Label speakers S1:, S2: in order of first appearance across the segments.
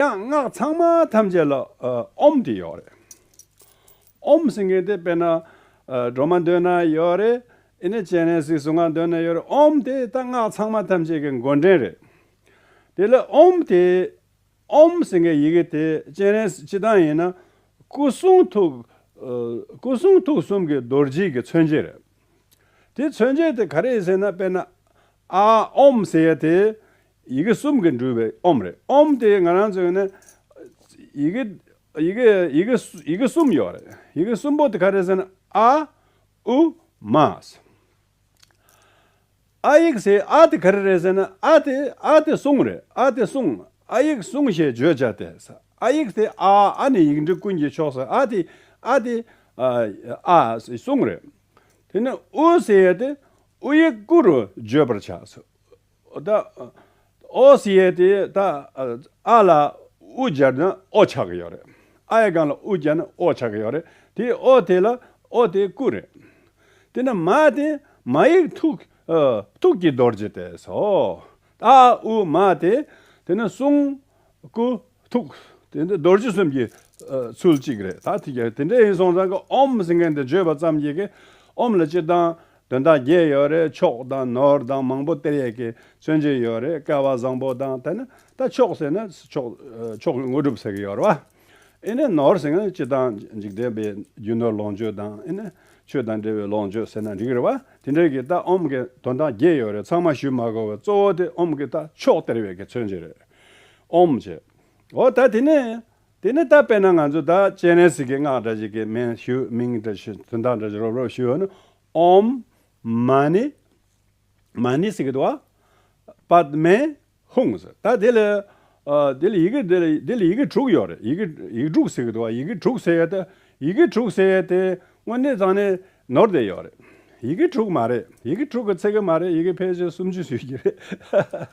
S1: ཡང་སྔགས་ཚང་མ་ཐམས་ཅད་ལ་ཨོམ་དེ་ཡོད་རེད། ཨོམ་ཟེར་མཁན་དེ་དཔེར་ན་སྒྲོལ་མ་མདུན་ན་ཡོད་རེད། ཨེ་ནས་སྤྱན་རས་གཟིགས་གཟུངས་སྔགས་མདུན་ན་ཡོད་རེད། ཨོམ་དེ་ད་སྔགས་ཚང་མ་ཐམས་ཅད་ཀྱི་མགོ་འདྲེན་རེད། དེ་ལ་ཨོམ་དེ་ཨོམ་ཟེར་མཁན་ཡི་གེ་དེ་སྤྱན་རས་སྤྱི་དང་ཡིན་ན་སྐུ་གསུང་ཐུགས་སྐུ་གསུང་ཐུགས་གསུམ་གྱི་རྡོ་རྗེ་གི་མཚོན་བྱེད་རེད། དེ་མཚོན་བྱེད་དེ་ག་རེ་ཟེར་ན་དཔེར་ན་ཨ་ཨོམ་ཟེར་ཡ་དེ་ཡི་གེ་གསུམ་གྱིས་འདྲུལ་བའི་ཨོམ་རེད་ཨོམ་དེ་ང་རང་ཚོས་ནི། ཡི་གེ། ཡི་གེ། ཡི་གེ། ཡི་གེ་གསུམ་ཡོད་རེད། ཡི་གེ་གསུམ་པོ་དེ་ག་རེད་ཟེར་ན་ཨ། ཨུ། མ། ས། ཨ་ཡིག་སའི་ཨ་དེ་ག་རེ་རེད་ཟེར་ན་ཨ་དེ་ཨ་དེ་གསུང་རེད་ཨ་དེ་གསུང་ཨ་ཡིག་གསུང་ཞེས་བརྗོད་བྱ་དེ་ས་ཨ་ཡིག་དེ་ཨ་ཨ་ནི་ཡིག་འབྲུ་ཀུན་གྱི་ཕྱོགས་སུ་ཨ་དེ་ཨ་དེ། ཨ་ཨ་གསུང་རེད། དེ་ནས་ཨུ་ཟེར་ཡས་དེ་ཨུ་ཡིག་ཀུ་རུ་བརྗོད་པར་བྱ། ཨོ་སི་ཡེ་དེ་ད་ཨ་ལ་ཨུ་སྦྱར་ན་ཨོ་ཆགས་ཀྱི་ཡོད་རེད། ཨ་ཡེ་གང་ལ་ཨུ་སྦྱར་ན་ཨོ་ཆགས་ཀྱི་ཡོད་རེད། དེ་ཨོ་དེ་ལ་ཨོ་དེ་ཀུ་རེད། དེ་ནི་མ་དེ་མ་ཡིག་ཐུག་ཐུག་གི་རྡོ་རྗེ་དེ་སོ། ཨ་ཨུ་མ་དེ་དེ་ནི་གསུང་སྐུ། ཐུགས། དེ་འདི་རྡོ་རྗེ་གསུམ་གྱི། ཚུལ་གཅིག་རེད་ད་དེ་འདྲ་ཡིན་སོང་ཙང་གི་ཨོམ་ཟེར་མཁན་དེ་བརྗོད་པ་ཙམ་གྱིས་གི་ཨོམ་ལ་སྤྱིར་བཏང་དོན་དག་བརྒྱད་ཡོད་རེད་མཆོག་དང་ནོར་དང་མང་པོ་གཏེར་ཡས་ཀྱི་མཚོན་བྱེད་ཡོད་རེད་སྐལ་བ་བཟང་པོ་དང་དེ་ན་ད་མཆོག་ཟེར་ན་མཆོག་གི་དངོས་གྲུབ་ཟེར་གི་ཡོད་རེད་བ། ཨེ་ནས་ནོར་ཟེར་མཁན་སྤྱིར་བཏང་འཇིག་རྟེན་པའི་རྒྱུ་ནོར་ལོངས་སྤྱོད་དང་ཨེ་ནས་ཆོས་དང་འབྲེལ་བའི་ལོངས་སྤྱོད་ཟེར་ན་འགྲིག་རེད་བ། དེ་འདྲའི་གི་ད་ཨོམ་གི་དོན་དག་བརྒྱད་ཡོད་རེད་ཚང་མ་ཞུས་མ་དགོས་བ་གཙོ་བོ་དེ་ཨོམ་གི་ད་མཆོག་གཏེར་ཡས་ཀྱི་མཚོན་བྱེད་རེད། ཨོམ་བྱས། འོ་ད་དེ་ནས། དེ་ནས་ད་དཔེར་ན་ང་ཚོ་ད་སྤྱན་རས་གཟིགས་ཀྱི་སྔགས་འདྲ་ཞིག་གི་མིང་ཞུ་མིང་འདྲ་ཞུ་དོན་དག་འདྲ་ཞིག་རོབ་རོབ་ཞུ་ནི། ཨོམ། མ་ནི། མ་ནི་སི་ཀི་ཏུ་ཨ། པདྨའི། ཧཱུྃ་ཟེར། ད་དེ་ལ། དེ་ལ་ཡི་གེ་འདི་ལ་དེ་ལ་ཡི་གེ་དྲུག་ཡོད་རེད་ཡི་གེ་ཡིག་དྲུག་སི་ཀི་ཏུ་ཨ་ཡི་གེ་དྲུག་ཟེར་ཡས་ཏེ། ཡི་གེ་དྲུག་ཟེར་ཡས་ཏེ། སྔོན་གནས་ཚང་ནས། ནོར་དེ་ཡོད་རེད། ཡི་གེ་དྲུག་མ་རེད། ཡི་གེ་དྲུག་གི་ཚད་ཀྱི་མ་རེད་ཡི་གེ་ཕལ་ཆེར་སུམ་ཅུ་ཡོད་ཀྱི་རེད།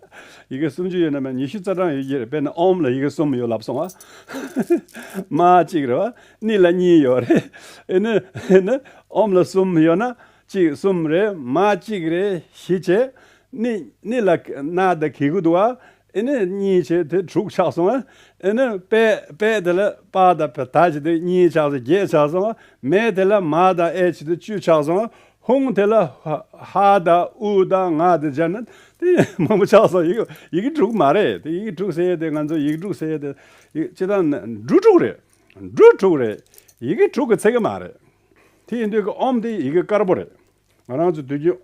S1: ཡི་གེ་སུམ་ཅུ་ཡོད་ན་མ་ཉི་ཤུ་རྩ་གྲངས་ཡོད་ཀྱི་རེད་དཔེར་ན་ཨོམ་ལ་ཡི་གེ་གསུམ་ཡོད་ལབ་སོང་ཨ། མ་གཅིག་རེད་བ། ནི་ལ་གཉིས་ཡོད་རེད། ཨེ་ནི། ཨེ་ནི། ཨོམ་ལ་གསུམ་ཡོད་ན། གཅིག་གསུམ་རེད། མ་གཅིག་རེད། བཞི་བྱེད། ནི། ནི་ལ། ན་ད་གི་གུ་འདུག་ཨ། ཨེ་ནས་གཉིས་བྱས་དེ་དྲུག་ཆགས་སོང་ཨེ་ནས་པས་པས་དེ་ལ་པ་དང་བ་ད་བྱས་དེ་གཉིས་ཆགས་སོང་བརྒྱད་ཆགས་སོང་ཨ་མས་དེ་ལ་མ་དང་ཨས་བྱས་དེ་བཅུ་ཆགས་སོང་ཧཱུྃ་དེ་ལ་ཧ་དང་ཨུ་དང་ང་དང་སྦྱར་ན་དེ་མང་པོ་ཆགས་སོང་ཡིག་ཡིག་དྲུག་མ་རེད་དེ་ཡིག་དྲུག་བསྲེས་དེ་ང་ཚོ་ཡིག་དྲུག་བསྲེས་དེ་ཡིག་སྤྱི་དང་འབྲུ་དྲུག་རེད་འབྲུ་དྲུག་རེད་ཡི་གེ་དྲུག་གི་ཚིག་མ་རེད་དེ་ཡིན་དུས་ཀྱི་ཨོམ་དེ་ཡི་གེ་དཀར་པོ་རེད། ང་རང་ཚོས་དུས་རྒྱུན།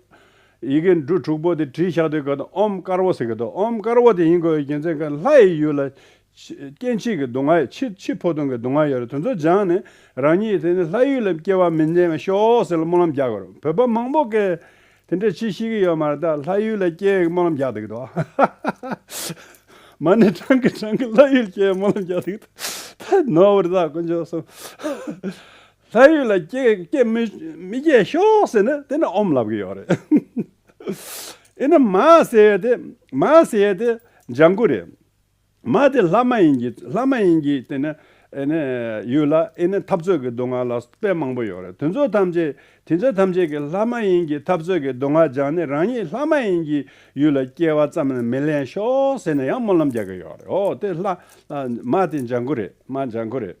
S1: ཡི་གེ་འབྲུ་དྲུག་པོ་དེ་བྲིས་ཤག་དུས་སྐབས་དང་ཨོམ་དཀར་བོ་ཟེར་གི་འདུག་ཨོམ་དཀར་བོ་དེ་ཡིན་དགོས་པའི་རྒྱུ་མཚན་ཁོས་ལྷ་ཡི་ཡུལ་ལ། སྐྱེ་འཆི་གི་སྡུག་བསྔལ་ཡོད་འཆི་འཆི་འཕོ་ལྟུང་གི་སྡུག་བསྔལ་ཡོད་རེད་དེ་ཚོ་སྦྱངས་ནས་རང་ཉིད་དེ་ནས་ལྷ་ཡུལ་ལ་སྐྱེ་བ་མི་འཛིན་ང་ཤོག་ཟེར་ལ་སྨོན་ལམ་རྒྱག་གི་རེད་བོད་པ་མང་པོ་ཀས་དེ་འདྲའི་ཆེ་ཤེས་ཀི་ཡོད་མ་རེད་ད་ལྷ་ཡུལ་ལ་སྐྱེ་ཡི་སྨོན་ལམ་རྒྱག་འདུག་གི་འདུག་མ་ནི་བགྲང་གི་བགྲང་གི་ལྷ་ཡུལ་སྐྱེ་ཡི་སྨོན་ལམ་རྒྱག་འདུག་གི་འདུག་ད་ནོར་བུ་རེད་ད་དཀོན་མཆོག་གསུམ། ལྷ་ཡུལ་ལ་སྐྱེས་མི་སྐྱེས་ཤོག་ཟེར་ན་དེ་ནི་ཨོམ་ལབ་གི་ཡོག་རེད། ཨེ་ནི་མ་ཟེར་ཡས་དེ་མ་ཟེར་ཡས་དེ་ལྗང་གུ་རེད། མ་དེ་ལྷ་མ་ཡིན་གྱི་ལྷ་མ་ཡིན་གྱི་དེ་ནི་ཨེ་ནི་ཡུལ་ལ་ཨེ་ནི་འཐབ་རྩོད་གི་སྡུག་བསྔལ་ལ་དཔེ་མང་པོ་ཡོག་རེད་དེ་ཚོ་ཐམས་ཅད་དེ་ཚོ་ཐམས་ཅད་ཀྱི་ལྷ་མ་ཡིན་གྱི་འཐབ་རྩོད་གི་སྡུག་བསྔལ་སྦྱངས་ནས་རང་ཉིད་ལྷ་མ་ཡིན་གྱི་ཡུལ་ལ་སྐྱེས་བ་ཙམ་ལས་མི་ལེན་ཤོག་ཟེར་ན་ཡང་སྨོན་ལམ་རྒྱག་གི་ཡོག་རེད་ཨོ་དེ་ལྷ་མ་དེ་ལྗང་གུ་རེད་མ་ལྗང་གུ་རེད།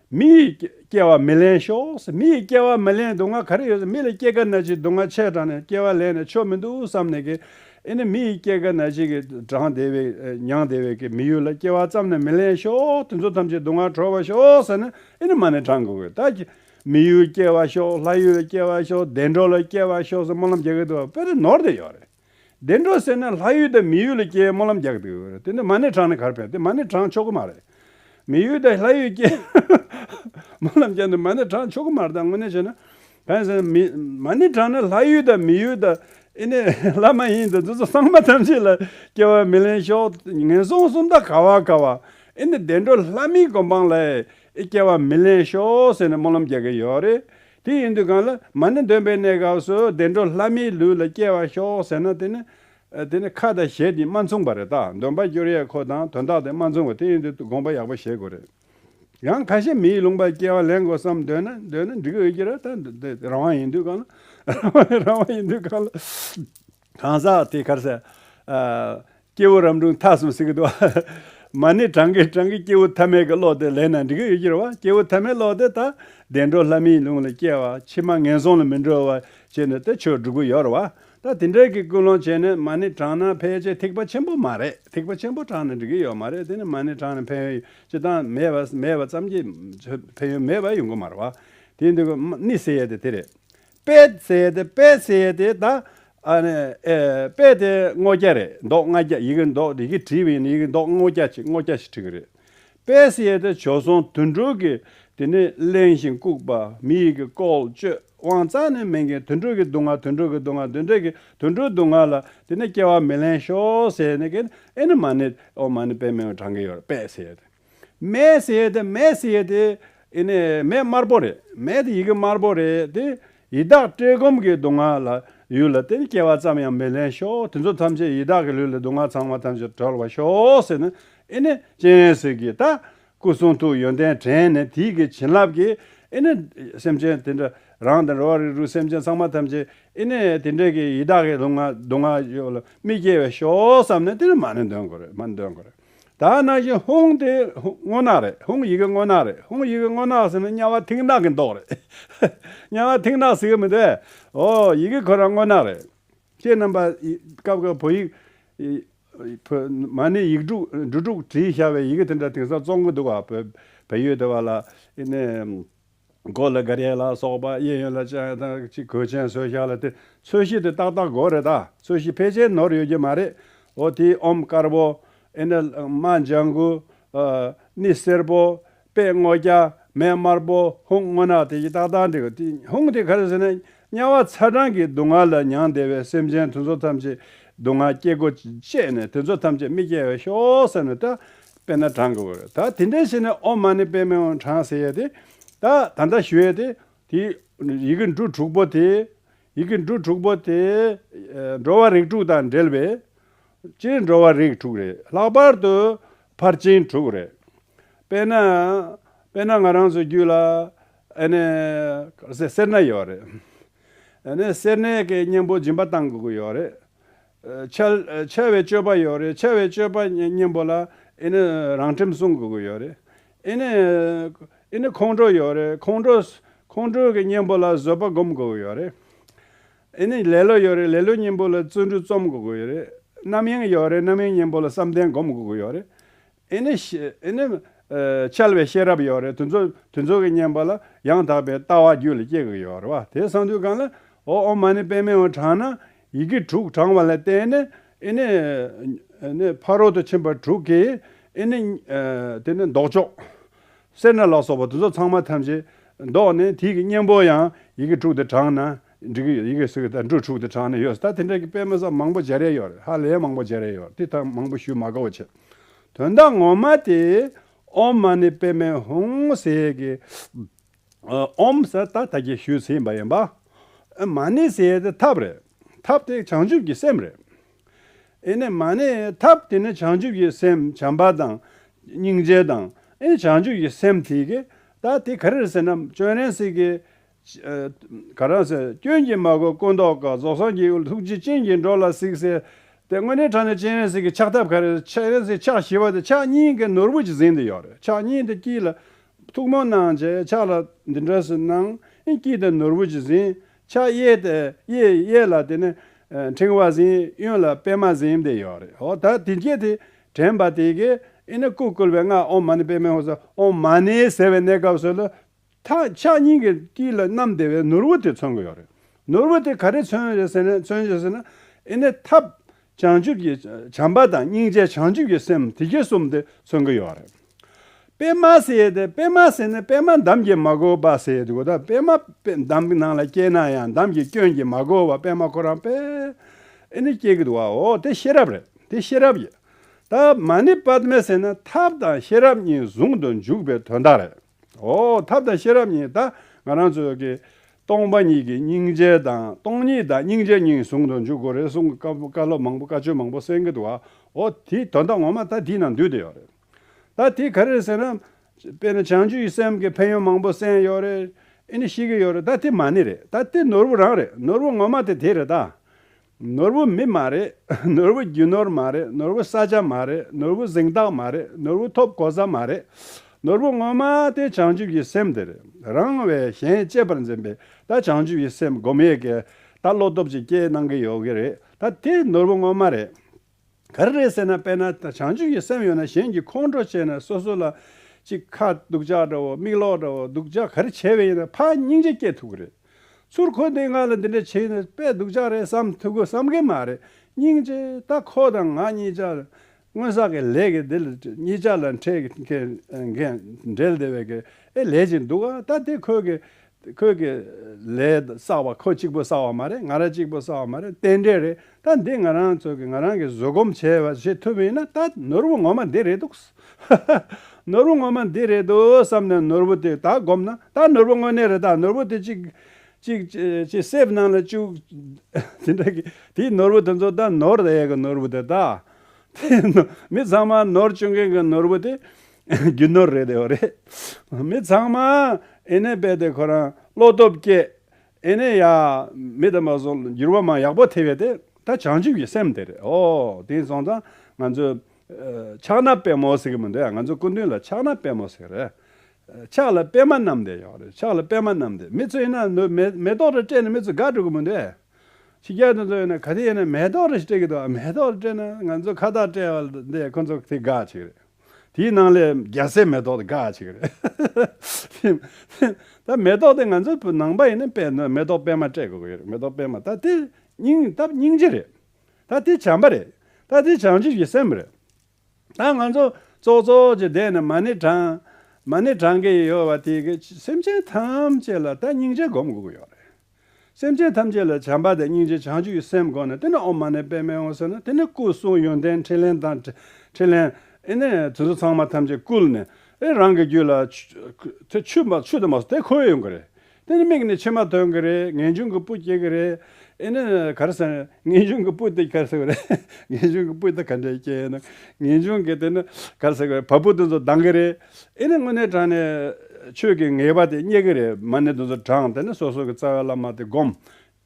S1: མི་ཡི་སྐྱེ་བ་མི་ལེན་ཤོག། མི་ཡི་སྐྱེ་བ་མི་ལེན་སྡུག་བསྔལ་ག་རེ་ཡོད་ཟེར་མི་ལ་སྐྱེ་རྒ་ན་འཆི་སྡུག་བསྔལ་ཆེ་དྲགས་ནས་སྐྱེ་བ་ལེན་ནས་ཆོ་མི་འདུག་བསམ་ནས་ཀྱི། ཨེ་ནི་མི་ཡི་སྐྱེ་རྒ་ན་འཆི་གི་གྲངས་བདེ་བའི་མྱང་བདེ་བའི་ཀྱི་མི་ཡུལ་ལ་སྐྱེ་བ་བརྩམས་ནས་མི་ལེན་ཤོག་དེ་ཚོ་ཐམས་ཅད་སྡུག་བསྔལ་གྲོལ་བར་ཤོག་ཟེར་ན་ཨེ་ནི་མ་ནི་གྲངས་དགུ་བའི་དག་གི། མི་ཡུལ་སྐྱེ་བ་ཤོག་ལྷ་ཡུལ་ལ་སྐྱེ་བ་ཤོག་བདེ་འགྲོ་ལ་སྐྱེ་བ་ཤོག་ཟེར་སྨོན་ལམ་རྒྱག་གི་འདུག་བ་དཔེ་རི་ནོར་དེ་ཡོད་རེད། བདེ་འགྲོ་ཟེར་ན་ལྷ་ཡུལ་དང་མི་ཡུལ་ལ་སྐྱེ་བའི་སྨོན་ལམ་རྒྱག་གི་འདུག་དེ་ནི་མ་ཎི་བྲང་ནས་གར་ཕེབས་ཏེ་མ་ཎི་བྲང་ཆོག་གི་མ་རེད། མི་ཡུལ་དང་ལྷ་ཡུལ་སྐྱེ་སྨོན་ལམ་རྒྱག་འདུག་མ་ཎི་བྲང་ཆོག་གི་མ་རེད་ད་དངོས་གནས་བྱས་ན། བན་ཟེར་ན་མི། མ་ཎི་བྲང་ནི་ལྷ་ཡུལ་དང་མི་ཡུལ་དང། ཨེ་ནས་ལྷ་མ་ཡིན་དང་འདི་ཚོ་སངས་མ་ཐམས་ཅད་ལ་སྐྱེ་བ་མི་ལེན་ཤོག་ངན་སོང་གསུམ་ད་ག་བ་ག་བ། ཨེ་ནས་བདེ་འགྲོ་ལྷ་མིའི་སྒོམ་སྤང་ལ་ཨེ་སྐྱེ་བ་མི་ལེན་ཤོག་ཟེར་ནས་སྨོན་ལམ་རྒྱག་གི་ཡོད་རེད། དེ་ཡིན་དུས་གང་ལ་མ་ནི་འདོན་པའི་གནས་སྐབས་སུ་བདེ་འགྲོ་ལྷ་མིའི་ལུས་ལ་སྐྱེ་བར་ཤོག་ཟེར་ན་དེ་ནི། དེ་ནི་ཁ་དང་ཞལ་གྱིས་མ་མཚུངས་པ་རེད་ད་འདོན་པ་བསྐྱུར་ཡས་ཁོ་དང་དོན་དག་དེ་མ་མཚུངས་པ་དེ་ཡིན་དུས་དགོངས་པ་ཡག་པོ་བཞེས་དགོས་རེད། ཡང་ཁ་ཤས་མིའི་ལུང་པར་སྐྱེ་བ་ལེན་དགོས་བསམ་འདོད་ན་འདོན་ན་འགྲིག་གི་འོས་ཀྱི་ར་ད་རང་དབང་ཡིན་དུས་གང་ལ། རང་དབང་ཡིན་དུས་གང་ལ། གང་ཟག་དེ་གར། སྐྱེ་བོ་རབ་འབྲིང་ཐ་གསུམ་སྲིད་ཀྱི་དུ། མ་ནི་བགྲང་གིན་བགྲང་གིན་སྐྱེ་བོ་ཐ་མལ་གྱི་བློ་དེ་ལེན་ན་འགྲིག་གི་ཡོད་ཕྱིར་བ་སྐྱེ་བོ་ཐ་མལ་བློ་དེ་དག་བདེ་འགྲོ་ལྷ་མིའི་ལུང་ལ་སྐྱེ་བ་ཕྱི་མ་ངན་སོང་ལ་མི་འགྲོ་བར་བྱེད་ནི་དེ་ཆོས་སྒྲུབ་གི་ཡོད་རེད་བ། ད་དེ་འདྲའི་གི་ཀུན་སློང་བྱས་ནས་མ་ནི་བགྲང་ན་ཕལ་ཆེར་ཐེག་པ་ཆེན་པོ་མ་རེད་ཐེག་པ་ཆེན་པོ་བགྲང་ན་འགྲིག་གི་ཡོད་མ་རེད་དེ་ནི་མ་ནི་བགྲང་ན་ཕན་ཡོན་ཅི་ལྟང་མེད་པ་ཙམ་གྱིས་ཕན་ཡོན་མེད་པ་ཡོང་གི་མ་རེད་བ། དེའི་འདུལ་བ་ནི་ཟེར་ཡས་དེ་དེ་རེད། དཔེ་བཙལ་ཏེ་དཔེ་བསལ་ཏེ་དང། དཔེ་དེ་སྔོ་སྐྱ་རེད་མདོག་ལྔ་སྐྱ་ཡི་གེ་མདོག་རིག་གིས་བྲིས་པ་ཡིན་ན་ཡི་གེ་མདོག་སྔོ་སྐྱ་ཆེ་སྔོ་སྐྱ་ཞེས་བྲིས་ཀྱི་རེད། དཔེ་བསལ་ཏེ་བྱོལ་སོང་དུད་འགྲོ་གི་དེ་ནི་གླེང་ཞིང་ལྐུགས་པ་མི་ཡི་གེ་བཀོལ་སྤྱོད་དབང་གཙང་ནི་མིན་གྱི་དུད་འགྲོ་གི་སྡུག་བསྔལ་དུད་འགྲོ་གི་སྡུག་བསྔལ་དུད་འགྲོ་གི་དུད་འགྲོའི་སྡུག་བསྔལ་ལ་དེ་ནི་སྐྱེ་བ་མི་གླེང་ཤོག་ཟེར་ནས་ཀྱི་ཨེ་ནི་མ་ནི་ཨོ་མ་ནི་དཔེ་མེད་པའི་བགྲང་གི་ཡོད་རེད་དཔེ་བསལ་ཏེ། མེ་ཟེར་ཡས་དེ་མེ་ཟེར་ཡས་དེ། ཨེ་ནས་མེ་དམར་པོ་རེད། མེ་དེ་ཡི་གེ་དམར་པོ་རེད་དེ། ཡི་དྭགས་བཀྲེས་སྐོམ་གྱི་སྡུག་བསྔལ་ལ། ཡུལ་ལ་དེ་ནི་སྐྱེ་བ་ཙམ་ཡང་མི་ལེན་ཤོག་དེ་ཚོ་ཐམས་ཅད་ཡི་དྭགས་ཀྱི་ལུས་ལ་སྡུག་བསྔལ་ཚང་མ་ཐམས་ཅད་གྲོལ་བར་ཤོག་ཟེར་ནས་ཨེ་ནས་སྤྱན་གཟིགས་ཀྱིས་ད། སྐུ་གསུང་ཐུགས་ཡོན་ཏན་དྲན་ནས་དེ་ཡི་གེ་བྱིན་རླབས་ཀྱིས་ཨེ་ནས། སེམས་ཅན་དེ་འདྲ་རང་དང་འགྲོ་བ་རིགས་དྲུག་སེམས་ཅན་ཚང་མ་ཐམས་ཅད་ཨེ་ནས་དེ་འདྲས་ཀྱི་ཡི་དྭགས་ཀྱི་སྡུག་བསྔལ་སྡུག་བསྔལ་ཡོད་ལ་མི་སྐྱེ་བའི་ཤོག་བསམ་ནས་དེ་ནི་མ་ནི་འདོན་དགོས་རེད་མ་ནི་འདོན་དགོས་རེད། ད་ནང་བཞིན་ཧུང་དེ་སྔོ་ནག་རེད་ཧུང་ཡི་གེ་སྔོ་ནག་རེད་ཧུང་ཡི་གེ་སྔོ་ནག་ཟེར་ན་དམྱལ་བ་མཐིང་ནག་གི་མདོག་རེད། དམྱལ་བ་མཐིང་ནག་ཟེར་གི་མི་འདུག་ཨོ་ཡི་གེ་ཁོ་རང་སྔོ་ནག་རེད། ཁྱེད་རྣམ་པ་སྐབས་སྐབས་བོད་ཡིག། བོད་མ་ནི་ཡིག་དྲུག་འབྲུ་དྲུག་བྲིས་ཤར་བའི་ཡི་གེ་དེ་འདྲ་དེང་སང་བཙོང་གི་འདུག་བ་བོད་བལ་ཡུལ་དེ་བ་ལ་ཨེ་ནས། མགོ་ལ་གར་ཡས་ལ་སོགས་པ་གཡས་གཡོན་ལ་སྤྱན་དང་གཅིག་གོས་ཅན་བཟོས་བཞག་ལ་དེ་ཚོས་གཞི་དེ་ཏག་ཏག་གོ་རེ་ད་ཚོས་གཞི་ཕལ་ཆེར་ནོར་ཡོད་ཀྱི་མ་རེད་འོ་དེའི་ཨོམ་དཀར་པོ། ཨེནྜཱི་མ་ལྗང་གུ། ནི་སེར་པོ། པད་སྔོ་སྐྱ། མེ་དམར་པོ་ཧཱུྃ་སྔོ་ནག་དེ་གཞི་ཏག་ཏག་འདི་གོ་དེ་ཧཱུྃ་དེ་ག་རེ་ཟེར་ན་དམྱལ་བ་ཚ་གྲང་གི་སྡུག་བསྔལ་ལ་མྱང་འདས་པའི་སེམས་ཅན་དེ་ཚོ་ཐམས་ཅད་སྡུག་བསྔལ་སྐྱེ་སྒོ་བཅད་ནས་དེ་ཚོ་ཐམས་ཅད་མི་སྐྱེ་བར་ཤོག་ཟེར་ནས་ད་དཔེར་ན་བགྲང་དགོས་རེད་ད་དེ་འདྲའི་ཞིག་ནས་ཨོ་མ་ནི་དཔེ་མེད་བགྲང་ཟེར་ཡས་དེ་ད་ད་ད་ཞུས་ཡས་དེ་དེ་ཡི་གེ་འབྲུ་དྲུག་པོ་དེ་ཡི་གེ་འབྲུ་དྲུག་པོ་དེ་འགྲོ་བ་རིགས་དྲུག་དང་འབྲེལ་བས་སྤྱིར་འགྲོ་བ་རིགས་དྲུག་རེད་ལྷག་པར་དུ་ཕར་ཕྱིན་དྲུག་རེད་དཔེར་ན་དཔེར་ན་ང་རང་ཚོའི་རྒྱུད་ལ། ཨ་ནི། སེར་སྣ་ཡོད་རེད། ཨ་ནི། སེར་སྣའི་གི་གཉེན་པོ་སྦྱིན་པ་གཏང་དགོས་ཀྱི་ཡོད་རེད། འཆལ། འཆལ་བའི་སྤྱོད་པ་ཡོད་རེད་འཆལ་བའི་སྤྱོད་པ་གཉེན་པོ་ལ་ཨ་ནི། རང་ཁྲིམས་སྲུང་དགོས་ཀྱི་ཡོད་རེད། ཨ་ནི། ཨ་ནི་ཁོང་ཁྲོ་ཡོད་རེད་ཁོང་ཁྲོ། ཁོང་ཁྲོའི་གི་གཉེན་པོ་ལ་བཟོད་པ་སྒོམ་དགོས་ཀྱི་ཡོད་རེད། ཨ་ནི། ལེ་ལོ་ཡོད་རེད་ལེ་ལོའི་གཉེན་པོ་ལ་བརྩོན་འགྲུས་རྩོམ་དགོས་ཀྱི་ཡོད་རེད། རྣམ་གཡེང་ཡོད་རེད་རྣམ་གཡེང་གཉེན་པོ་ལ་བསམ་གཏན་སྒོམ་དགོས་ཀྱི་ཡོད་རེད། ཨེ་ནི། ཨེ་ནི། འཆལ་བའི་ཤེས་རབ་ཡོད་རེ་དོན་རྫོགས་དོན་རྫོགས་ཀྱི་བསྙེན་པ་ལ་ཡང་དག་པའི་ལྟ་བ་རྒྱུད་ལ་སྐྱེ་དགོས་ཡོད་རེ་བ་དེ་གསང་འདུས་གང་ལ་ཨོ་ཨོ་མ་ནི་པད་མའི་འོད་དྲངས་ན་ཡི་གེ་དྲུག་དྲངས་བ་ལ་བརྟེན་ནས་ཨེ་ནི། ཨེ་ནི། ཕ་རོལ་ཏུ་ཕྱིན་པ་དྲུག་གིས་ཨེ་ནི། དེ་ནི་བཟློག་ཆོག། སེར་སྣ་ལ་སོགས་པ་དོན་རྫོགས་ཚང་མ་ཐམས་ཅད་བཟློག་ནས་དུས་ཀྱི་གཉེན་པོར་ཡང་ཡི་གེ་དྲུག་དེ་དྲངས་ན། འགྲིག་གི་ཡོད་ཡི་གེ་ཟེར་གི་ད་འབྲུ་དྲུག་དེ་དྲངས་ནས་ཡོད་ད་དེ་འདྲ་གི་དཔེ་མི་ཟ་མང་པོ་བརྗེ་རེས་ཡོད་ཧ་ལས་མང་པོ་བརྗེ་རེས་ཡོད་དེ་ད་མང་པོ་ཞུས་མ་དགའ་བོ་བྱེད། དོན་དག་ངོ་མ་དེ། ཨོམ་མ་ནི་དཔེ་མེད་ཧུང་ཟེར་གི། ཨོམ་ཟེར་ད་ད་གི་ཞུས་ཟིན་པ་ཡིན་པ། ཨོན་མ་ནི་ཟེར་དེ་ཐབས་རེད། ཐབས་དེ་བྱང་ཆུབ་ཀྱི་སེམས་རེད། ཨེ་ནས་མ་ནི་ཐབས་དེ་ནི་བྱང་ཆུབ་ཀྱི་སེམས་བྱམས་པ་དང། སྙིང་རྗེ་དང། ཨེ་བྱང་ཆུབ་ཀྱི་སེམས་དེ་གི། ད་དེ་ག་རེ་རེད་ཟེར་ན་སྤྱོད་རན་ཟེར་གི། ག་རང་ཟེར། སྐྱོན་གྱིས་མ་གོས་སྐུ་མདོག་དཀར་རྫོགས་སངས་རྒྱས་ཀྱི་ཐུགས་རྗེ་སྤྱན་གྱིས་འགྲོ་ལ་གཟིགས་ཟེར། དེ་སྔོན་ནས་དྲངས་ནས་སྤྱན་རས་གཟིགས་ཀྱི་ཕྱག་ཐབས་ག་རེ་རེད་སྤྱན་རས་གཟིགས་ཕྱག་བཞི་པ་དེ་ཕྱག་གཉིས་ཀྱི་ནོར་བུ་ཅིག་གཟིགས་འདི་ཡོད་རེད་ཕྱག་གཉིས་དེ་དཀྱིལ་ལ། ཐུགས་མོ་གནང་བྱས་ཕྱག་ལ་འདི་འདྲ་སུ་གནང་དཀྱིལ་དེ་ནོར་བུ་ཅིག་གཟིགས། ཕྱག་གཡས་དེ་གཡས་གཡས་ལ་དེ་ནས་འཕྲེང་བ་གཟིགས་གཡོན་ལ་པད་མ་གཟིགས་འདི་ཡོད་རེད་ཧོ་ད་དེ་རྗེས་དེ་དྲན་པ་དེ་གས་ཨེ་ན་སྐུ་བསྐུལ་བའི་སྔགས་ཨོང་མ་ནི་པད་མའི་ཧོ་ཟེར་ཨོང་མ་ནི་ཟེར་བའི་གནས་སྐབས་སུ་ལ་ཐག་ཆག་སྙིང་གི་དཀྱིལ་ལ་གནམ་སྡེ་བའི་ནོར་བུ་དེ་མཚོན་དགོས་རེད། ནོར་བུ་དེ་ག་རེ་མཚོན་ཞེས་ཟེར་ན། མཚོན་ཞེས་ཟེར་ན། ཨེ་ནས་ཐབས། བྱང་ཆུབ་ཀྱི་བྱམས་པ་དང་སྙིང་རྗེ་བྱང་ཆུབ་ཀྱི་སེམས་དེ་གྱི་གསུམ་དེ་མཚོན་གྱི་ཡོད་རེད། པད་མ་ཟེར་ཏེ་པད་མ་ཟེར་ན་པད་མ་འདམ་གྱིས་མ་གོས་པ་ཟེར་དགོས་ད་པད་མ་འདམ་གྱི་ནང་ལ་སྐྱེས་ན་ཡང་འདམ་གྱི་སྐྱོན་གྱིས་མ་གོས་བར་པད་མ་ཁོ་རང་པད། ཨེ་ནས་སྐྱེས་གི་འདུག་བའོ་དེ་ཤེས་རབ་རེད་དེ་ཤེས་རབ་ཡིན། ད་མ་ནི་པདྨ་ཟེར་ན་ཐབས་དང་ཤེས་རབ་གཉིས་ཟུང་དུ་འཇུག་པའི་དོན་དག་རེད། འོ། ཐབས་དང་ཤེས་རབ་གཉིས་དང་ང་རང་ཚོའི་གི། སྟོང་པ་ཉིད་ཀྱི་སྙིང་རྗེ་དང་སྟོང་ཉིད་དང་སྙིང་རྗེ་གཉིས་ཟུང་དུ་འཇུག་དགོས་རེད་གསུང་གི་སྐབས་བཀའ་སློབ་མང་པོ་བཀའ་ཆོས་མང་པོ་གསན་གི་འདུག་ཨ་ཨོ་དེ་དོན་དག་ངོ་མ་ད་དེའི་ནང་འདུས་དེ་ཡོད་རེད། ད་དེ་ག་རེད་ཟེར་ན། དཔེར་ན་བྱང་ཆུབ་ཀྱི་སེམས་ཀྱི་ཕན་ཡོན་མང་པོ་གསན་ཡོད་རེད། ཨེ་ནི་ཤེས་ཀྱི་ཡོད་རེད་ད་དེ་མ་ནི་རེད་ད་དེ་ནོར་བུ་རང་རེད་ནོར་བུ་ངོ་མ་དེ་དེ་རེད་ད། ནོར་བུ་མི་མ་རེད། ནོར་བུ་རྒྱུ་ནོར་མ་རེད་ནོར་བུ་ས་ཆ་མ་རེད་ནོར་བུ་གཟེངས་རྟགས་མ་རེད་ནོར་བུ་ཐོབ་གོ་ས་མ་རེད། ནོར་བུ་དངོས་མ་དེ་བྱང་ཆུབ་ཀྱི་སེམས་དེ་རེད། རང་བས་གཞན་གཅེས་པར་འཛིན་པས་ད་བྱང་ཆུབ་ཀྱི་སེམས་སྒོམ་ཡས་ཀྱི་ད་བློ་སྟོབས་ཀྱི་སྐྱེས་གནང་གི་ཡོད་གི་རེད་ད་དེ་ནོར་བུ་དངོས་མ་རེད། ག་རེ་རེད་ཟེར་ན་དཔེར་ན་བྱང་ཆུབ་ཀྱི་སེམས་ཡོད་ན་གཞན་གྱི་ཁོང་ཁྲོ་ཆེ་ན་སོ་སོ་ལ། ཅིག་ཁ་སྡུག་ཅག་འདྲ་བོ་མིག་ལོག་འདྲ་བོ་སྡུག་ཅག་ག་རེ་བྱས་པས་ཡིན་ན་ཕ་སྙིང་རྗེ་སྐྱེ་ཐུབ་ཀྱི་རེད། ཚུར་ཁོ་དེས་ང་ལ་འདི་འདྲ་བྱས་ཡིན་ན་དཔེ་སྡུག་ཅག་རེད་བསམ་ཐུབ་གི་བསམ་གི་མ་རེད་སྙིང་རྗེ་ད་ཁོ་དང་ང་གཉིས་ཅག་སྔོན་བསགས་ཀྱི་ལས་ཀྱི་དེ་ལ་གཉིས་ཅག་ལ་འཕྲད་མཁན་འགན་འགྲེལ་དེ་བས་ཀྱི་ཨེ་ལས་ཅིག་འདུག་ཨ་ད་དེ་ཁོས་ཀྱི་ཁོས་ཀྱི། ལས་བསགས་པ་ཁོ་གཅིག་པོས་བསགས་བ་མ་རེད་ང་རང་གཅིག་པོས་བསགས་བ་མ་རེད་རྟེན་འབྲེལ་རེད་ད་འདི་ང་རང་ཚོས་ཀྱི་ང་རང་གིས་བཟོད་སྒོམ་བྱས་པ་བྱེད་ཐུབ་ཡིན་ན་ད་ནོར་བུ་ངོ་མ་འདི་རེད་འདུག། ནོར་བུ་ངོ་མ་འདི་རེད་འདུག་བསམ་ནས་ནོར་བུ་དེ་ད་སྒོམ་ན་ད་ནོར་བུ་དངོས་གནས་རེད་ད་ནོར་བུ་དེ་གཅིག། གཅིག། ཅེས་སེམས་ནང་ལ་བཅུག། དེ་འདྲ་གི་དེའི་ནོར་བུ་དེ་ཚོ་ད་ནོར་ཡས་ཀྱི་ནོར་བུ་དེ་ད། དེ་ནོར་མི་ཚང་མ་ནོར་བཅུག་མཁན་གྱི་ནོར་བུ་དེ། རྒྱུ་ནོར་རེད་དེ་བ་རེད། མི་ཚང་མ་ཨེ་ནས་བས་དེ་ཁོ་རང་བློ་སྟོབས་བསྐྱེད་ཨེ་ནས་ཡ། མི་དམ་པ་སོགས་འགྱུར་བ་མང་ཡག་པོ་ཐེབས་ཡོད་དེ་ད་བྱང་ཆུབ་ཀྱི་སེམས་དེ་རེད་ཨོ་དེང་སོང་ཙང་ང་ཚོས། ཕྱག་ན་པད་མོ་ཟེར་གྱི་མི་འདུག་ཡ་ང་ཚོ་སྐུ་མདུན་ལ་ཕྱག་ན་པད་མོ་ཟེར་རེད། ཕྱག་ལ་པད་མ་བསྣམས་དེ་ཡོང་རེད་ཕྱག་ལ་པད་མ་བསྣམས་དེ་མི་ཚོས་ཡིན་ན་ནུ་མེ་ཏོག་རེ་སྤྲད་ནས་མི་ཚོས་དགའ་འགྲོ་གི་མི་འདུག་ཡ། ཕྱི་རྒྱལ་དེ་ཚོ་ཡིན་ན་ག་དེ་ཡིན་ན་མེ་ཏོག་རེ་ཞིག་སྤྲད་ཀྱི་འདུག་ཨ་མེ་ཏོག་རེ་སྤྲད་ན་ང་ཚོ་ཁ་བཏགས་སྤྲད་བ་དེ་ཁོ་ཚོ་དེ་དགའ་ཆེ་གི་རེད། དེའི་ནང་ལས་རྒྱ་སེ་མེ་ཏོག་དེ་དགའ་ཆེ་གི་རེད། ད་མེ་ཏོག་དེ་ང་ཚོའི་བོད་ནང་པ་ཡིན་ན་པད་མེ་ཏོག་པད་མ་སྤྲད་དགོས་ཀྱི་རེད་མེ་ཏོག་པད་མ་ད་དེ་སྙིང་སྟབས་སྙིང་རྗེ་རེད། ད་དེ་བྱམས་པ་རེད། ད་དེ་བྱང་ཆུབ་ཀྱི་སེམས་རེད། ད་ང་ཚོ་ཙོག་ཙོག་གི་སྡེ་ནས་མ་ཎི་བགྲང། མ་ཎི་བགྲང་གི་ཡོད་བ་དེ་གི་སེམས་ཅན་ཐམས་ཅད་ལ་ད་སྙིང་རྗེ་སྒོམ་དགོས་ཀྱི་ཡོད་རེད། སེམས་ཅན་ཐམས་ཅད་ལ་བྱམས་པ་དང་སྙིང་རྗེ་བྱང་ཆུབ་ཀྱི་སེམས་དགོངས་ནས་དེ་ནི་འོག་མ་ནས་པད་མའི་འོད་ཟེར་ནི་དེ་ནི་སྐུ་གསུང་ཡོན་ཏན་ཕྲིན་ལས་དང། ཕྲིན་ལས། ཨེ་ནས་དེ་ཚོ་ཚང་མ་ཐམས་ཅད་བསྐུལ་ནས། ཨེ་རང་གི་རྒྱུད་ལ། དེ་ཆུད་མ་ཆུད་དུ་མ་སོང་དེ་ཁོ་བོའི་ཡོང་གི་རེད། དེ་ནི་མིག་ནི་ཕྱི་མ་ཐོན་གི་རེད་ངེས་འབྱུང་གི་སྤུ་སྐྱེ་གི་རེད། ཨེ་ནས་གར་སེམས། ངེས་འབྱུང་གི་སྤུ་དེ་གར་སེ་གི་རེད། ངེས་འབྱུང་གི་སྤུ་དེ་ག་འདྲས་སྐྱེ་ཡོད་ན། ངེས་འབྱུང་གི་དེ་ནི་གར་སེ་གི་རེད་བ་སྤུ་དེ་ཚོ་ལྡང་གི་རེད། ཨེ་ནི་དངོས་གནས་དྲངས་ནས། ཆོས་ཀྱི་ངེས་པ་དེ་རྙེད་ཀྱི་རེད་མ་ནི་དེ་ཚོ་དྲངས་དེ་ནས་སོ་སོ་གི་རྩ་བའི་བླ་མ་དེ་བསྒོམ།